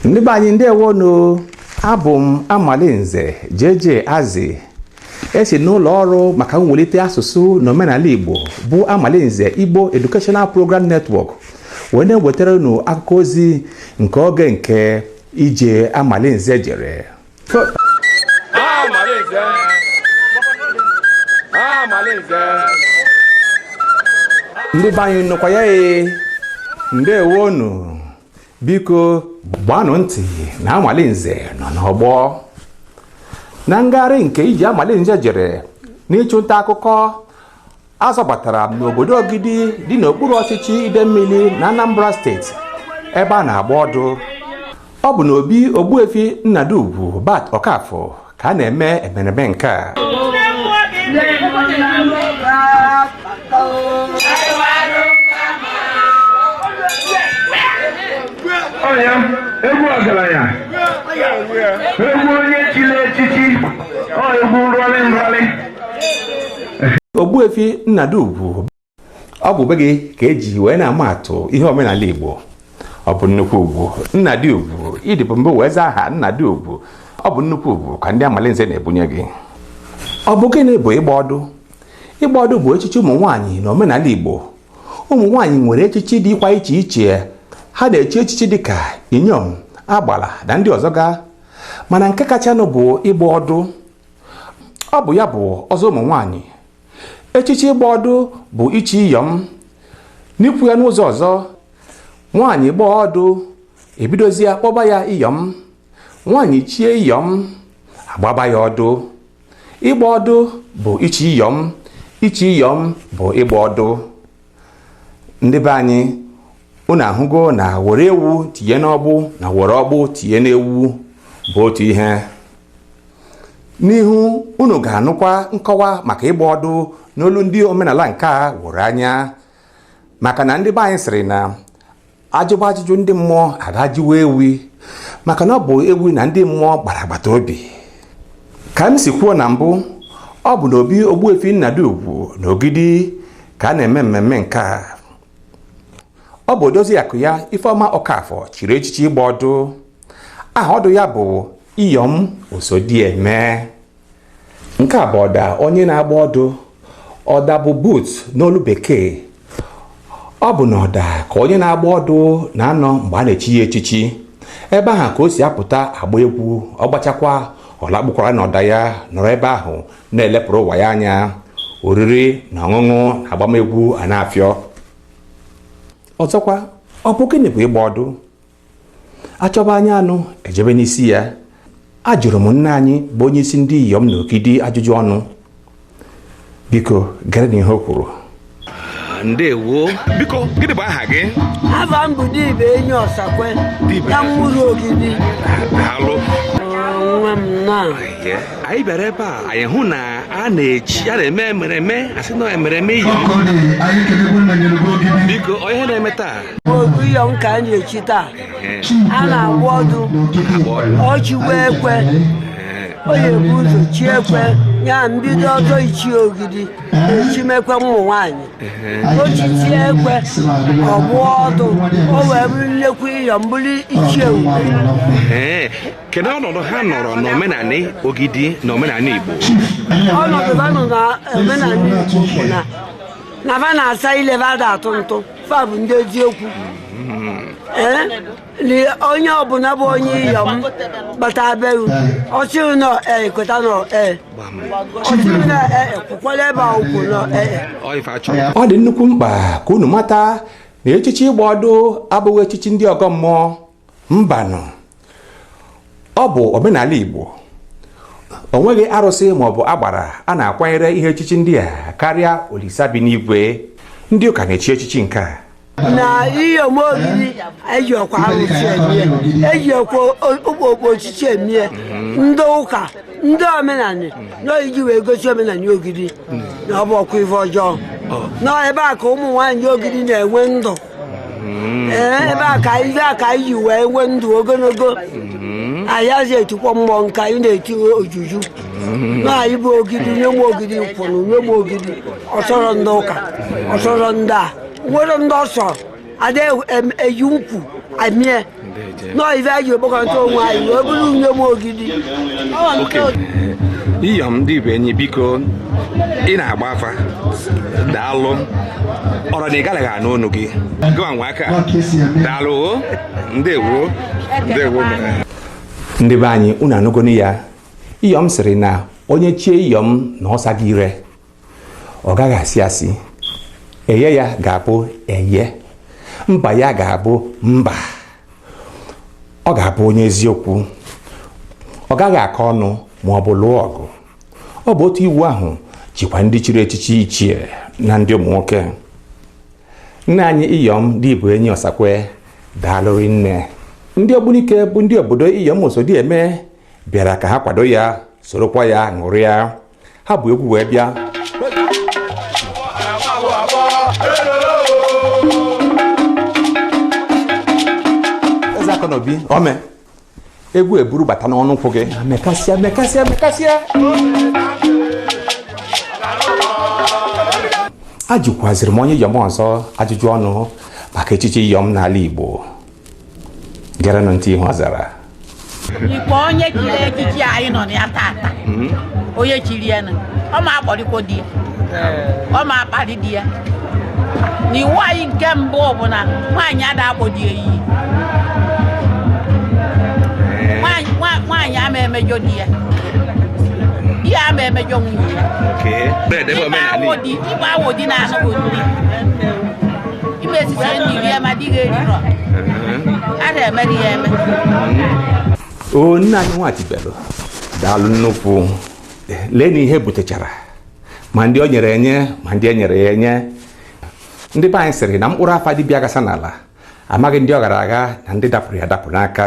ndị be anyị ndewonu abụ m amalinze JJ Azi esi n'ụlọ ọrụ maka mwelite asụsụ na omenala Igbo bụ amalinze Igbo Educational Program Network wee na-ewetara unu akụkọ ozi nke oge nke ije amalinze jere ndị be anyị nọkwa ya ee ndewonu biko gbanụ ntị na amalinze nọ n'ọgbọ na ngagharị nke ije amalinze jere n'ịchụ nta akụkọ azọbatara m n'obodo Ogidi dị n'okpuru ọchịchị Idemmili na Anambra steeti ebe a na-agba ọdụ ọ bụ n'obi Ogbuefi Nnadi Ugwu Bat Okafọ ka a na-eme emereme nke a ọya egwu ọgaranya egwu onye chiri echichi ọ egwu nrọlị nrọlị Ogbuefi Nnadi Ugwu ọ bụ be gị ka eji wee na-ama atụ ihe omenala Igbo ọ bụ nnukwu ugwu Nnadi Ugwu ị dịbu mbụ wee zaa aha Nnadi Ugwu ọ bụ nnukwu ugwu ka ndị Amalinze na-ebunye gị ọ bụ gịnị bụ ịgba ọdụ ịgba ọdụ bụ echichi ụmụ nwaanyị na omenala Igbo ụmụ nwaanyị nwere echichi dịkwa iche iche ha na-echi echichi dịka inyom agbala na ndị ọzọ ga mana nke kachanụ bụ ịgba ọdụ ọ bụ ya bụ ọzọ ụmụ nwaanyị echichi ịgba ọdụ bụ ichi iyọm n'ikwu ya n'ụzọ ọzọ nwaanyị gbaa ọdụ ebidozie kpọba ya iyọm nwaanyị chie iyọm agbaba ya ọdụ ịgba ọdụ bụ ichi iyọm ichi iyọm bụ ịgba ọdụ ndị be anyị unu ahụgo na were ewu tinye n'ọgbụ na were ọgbụ tinye n'ewu bụ otu ihe n'ihu unu ga-anụkwa nkọwa maka ịgba ọdụ n'olu ndị omenala nke a weru anya maka na ndị be anyị sịrị na ajụba ajụjụ ndị mmụọ a ga jụwa ewi maka na ọ bụ ewi na ndị mmụọ gbara agbata obi ka m si kwuo na mbụ ọ bụ na obi ogbuefi nnadị ugwu na ogidi ka a na-eme mmemme nke a ọ bụ odozi akụ ya ifeọma okafọ chiri echichi ịgba ọdụ aha ọdụ ya bụ iyom osodieme nke a bụ ọda onye na-agba ọdụ ọda bụ booth n'olu bekee ọ bụ n'ọda ka onye na-agba ọdụ na-anọ mgbe a na-echi ya echichi ebe ahụ ka o si apụta agba egwu ọ gbachakwa ọ lakpukwara n'ọda ya nọrọ ebe ahụ na-elepụrụ ụwa ya anya oriri na ọṅụṅụ na agbamegwu a na-afịọ ọzọkwa ọ bụ gịnị bụ ịgba ọdụ a chọba anya anụ e jebe n'isi ya ajụrụ m nne anyị bụ onye isi ndị iyom na ogidi ajụjụ ọnụ biko gerenụ ihe o kwuru ndewo biko gịnị bụ aha gị Ava m bụ Dibụenyi Ọsakwe Dibe. na ụmụru ogidi daalụ nwa m na Yeah. anyị bịara ebe a anyị hụ na a na-eji a na-eme emereme asị na emereme iyom biko onye na-eme taa ọ bụ iyom ka a na-echi taa a na-agba ọdụ o chiwe ekwe onye bu ụzọ chie ekwe ya mbido ọzọ ichi ogidi echim ekwe ụmụ nwanyị o chichaa ekwe ọ gba ọdụ o wee bụrụ nnekwu iyom bụrụ ichie uwe kedu ọnọdụ ha nọrọ n'omenanị ogidi na omenanị igbo ọnọdụ ha nọ n'omenanị igbo bụ na na fa na-asa ile fa ada atụ ntụ fa bụ ndị eziokwu ee onye ọbụla bụ onye iyom gbata beru ọchịrị nọ ee kweta nọ ee ọchịrị nọ ee kwukwala ebe a ukwu nọ ee ọ dị nnukwu mkpa ka unu mata na echichi ịgba ọdụ abụghị echichi ndị ọgọ mmụọ mbanụ ọ bụ omenala Igbo o nweghị arụsị maọbụ agbara a na-akwanyere ihe echichi ndị a karịa olisa bi n'igwe ndị ụka na-echi echichi nke a na iyom ogidi ejirọkwa arụsị emie ejirọkwa okpukpe ọchịchị emie ndị ụka ndị omenanị na anyị ji wee gosi omenanị ogidi na ọ bụrọkwa ife ọjọọ nọ ebe a ka ụmụ nwaanyị ogidi na-enwe ndụ mm-hmm. eh, ebe a ka ibe a ka anyị ji wee nwee ndụ ogologo mm-hmm. anyị adị etikwa mmụọ nke anyị na-eti ojuju mm-hmm. na anyị bụ ogidi inyom ogidi kwụrụ inyom ogidi ọ sọrọ ndị ụka ọ sọrọ ndị a nwerọ ndị ọ sọ ada eji ọgwụ emie nọọ ife anyị ji ekpokọta onwe anyị wee bụrụ inyom ogidi iyom dibụenyi biko ị na-agba afa daalụ ọrụ na ị garaghị anụ ọnụ gị gịwa nwa aka daalụ o ndewo ndewo ndị be anyị unu anụgonu ya iyom sịrị na onye chie iyom na ọ sago ire ọ gaghị asị asị eye ya ga-abụ eye mba ya ga-abụ mba ọ ga-abụ onye eziokwu ọ gaghị akọ ọnụ ma ọ bụ lụọ ọgụ ọ bụ otu iwu ahụ jikwa ndị chiri echichi ichie na ndị ụmụ nwoke nne anyị iyom di bụ enyi ọsakwe daalụrị nne ndị ogbunike bụ ndị obodo iyom osodieme bịara ka ha kwado ya sorokwa ya ṅụrịa ha bu egwu wee bịa eze aka na obi ome egwu eburu bata n'ọnụ ụkwụ gị mekasịa mekasịa mekasịa ajụkwaziri m onye iyom ọzọ ajụjụ ọnụ maka echichi iyom n'ala igbo gerenụ ntị ihe ọ zara ikpe onye chiri echichi anyị nọ na ya tata hmm? onye chiri ya na ọ ma akpọrịkwo di ya ọ ma akparị di ya na iwu anyị nke mbụ bụ na nwaanyị ada akpọ di ya iyi nwaanyị ama emejọ di ya di ya ama emejọ nwunye ya ibe awodi na-anụghị di ime esisie nni gị ya ma di gị erirọ a na-emeri ya eme o nne anyị nwachibelu daalụ nnukwu lee na ihe butechara ma ndị o nyere enye ma ndị e nyere ya enye ndị be anyị sịrị na mkpụrụ afa dibịa ghasa n'ala amaghị ndị ọ ghara agha na ndị dapụrụ ya adapụ n'aka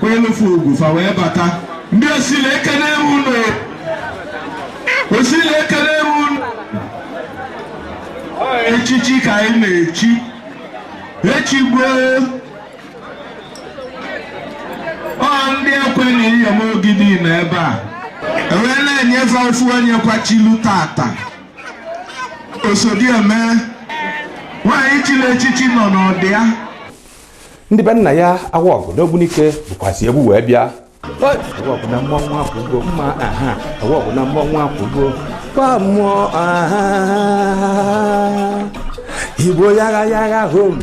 kwelufu ugwu fa wee bata ndị osile ekene unu o osile ekene unu echichi ka anyị na-echi echi gboo ọ ndị ekwe na iyom ogidi nọ ebe a e wee na-enyefe ofu onye kwa chilu tata osodieme nwaanyị chiri echichi nọ n'ọdịa ndị be nna ya awa ọgụ n'ogbunike bukwazi egwu wee bịa awa ọgụ na mmọnwụ akwụgo mma aha awa ọgụ na mmọnwụ akwụgo kwa mmụọ aha igbo yagha yagha hom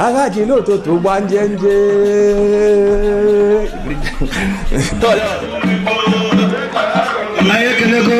agha ji n'ụtụtụ gba njenje anyị ekelego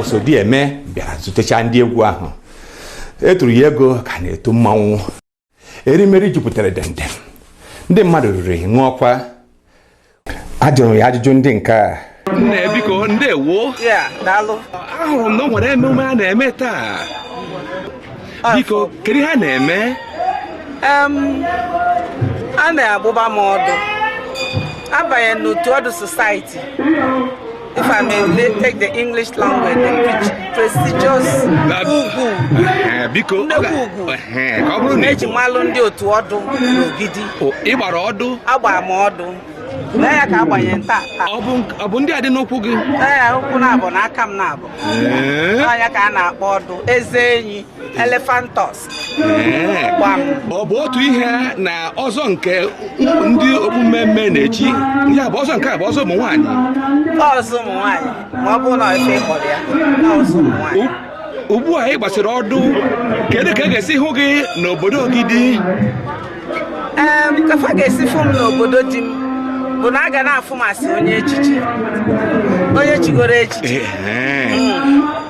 osodieme bịara zutecha ndị egwu ahụ e turu ya ego ka a na-etu mmanwụ erimeri jupụtara dendem ndị mmadụ riri ṅụọkwa ajụrụ ya ajụjụ ndị nke a nne biko ndewo ahụrụ m na o nwere emume a na-eme taa biko kedu ihe a na-eme a na-agbaba m ọdụ abanye n'otu ọdụ society If I may take the English language, the prestigious ugwu. Eh, biko nnekwu ugwu eh, ka ọ bụrụ na eji malụ ndị otu ọdụ n'ogidi. Ị gbara ọdụ? Agbara m ọdụ. Lee ya ka a gbanye m taa ọ bụ ndị a dị n'ụkwụ gị lee ya ụkwụ naabọ na aka m naabọ eh? ya ka a na-akpọ ọdụ eze enyi elephant tusk ọ bụ otu ihe na ọzọ nke ndị okpu mmee mmee na-echi ya bụ ọzọ nke a bụ ọzọ ụmụ nwaanyị ọzọ ụmụ nwaanyị ma ọ bụrụ na ife kpọrọ ya ọzọ ụmụ nwaanyị ugbu a ị gbasịrị ọdụ kedu ka a ga-esi hụ gị n'obodo Ogidi ka fa ga-esi fụ m n'obodo di m bụ na a ga na-afụ m asị onye echichi onye chigoro echichi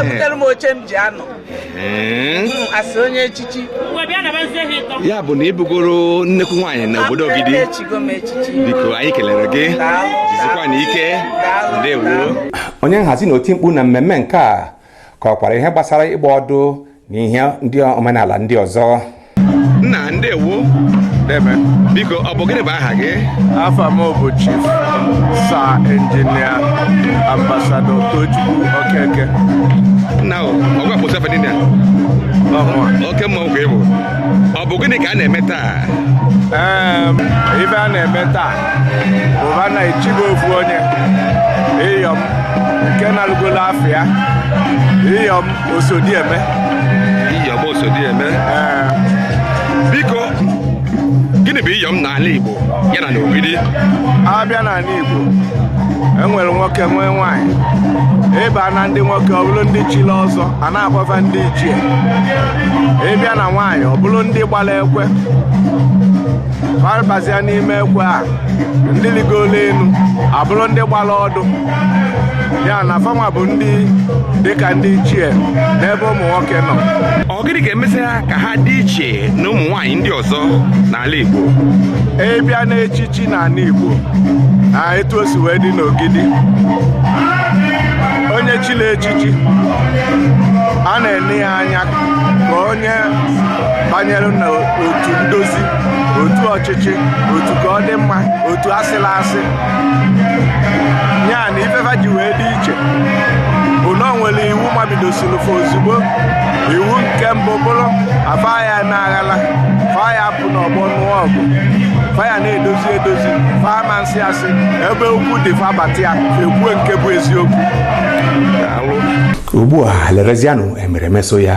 ebutere m oche m ji anọ asị onye echichi ya bụ na ị bụgoro nnekwu nwaanyị na obodo Ogidi biko anyị kelere gị jisikwanụ ike ndewo onye nhazi na oti mkpu na mmemme nke a kọkwara ihe gbasara ịgba ọdụ na ihe ndị omenala ndị ọzọ nna ndewo deeme biko ọ bụ gịnị bụ aha gị afa m bụ chief sir engineer ambassador Tochukwu Okeke nna o ọgwa bụ sefe niile oke mmanwụ ka ị bụ ọ bụ gịnị ka a na-eme taa ife a na-eme taa bụ a na-echibe ofu onye iyom nke nalụgolu afa ya iyom Osodieme iyom Osodieme biko gịnị bụ iyom n'ala Igbo ya na n'ogidi a bịa n'anị Igbo enwere nwoke nwee nwaanyị ị baa na ndị nwoke ọ bụrụ ndị chili ọzọ a na-akpọ fa ndị ichie ị bịa na nwaanyị ọ bụrụ ndị gbara ekwe fa abazia n'ime ekwe a ndị ligolu enu abụrụ ndị gbara ọdụ ya na fa nwa bụ ndị dịka ndị ichie n'ebe ụmụ nwoke nọ ọ gịnị ga-emezi ha ka ha dị iche na ụmụ nwaanyị ndị ọzọ n'ala Igbo ị bịa n'echichi n'anị Igbo na etu o si wee dị n'ogidi onye chili echichi a na-ene ya anya ka onye banyere n'otu ndozi otu ọchịchị otu ka ọ dị mma otu asịla asị ya na ife fa ji wee dị iche bụ na o nwere iwu mabidosiri fa ozugbo iwu nke mbụ bụrụ afa ya na aghala fa ya apụ n'ọgbọ nụọ ọgụ fa ya na-edozi edozi fa ama nsị asị ebe okwu dị fa bata ya ekwue nke bụ eziokwu ugbu a lerezianụ emereme so ya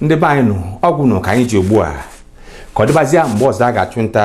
ndị be anyị nụ ọ gwụnụ ka anyị ji ugbu a ka ọ dịbazịa mgbe ọzọ a ga-achụ nta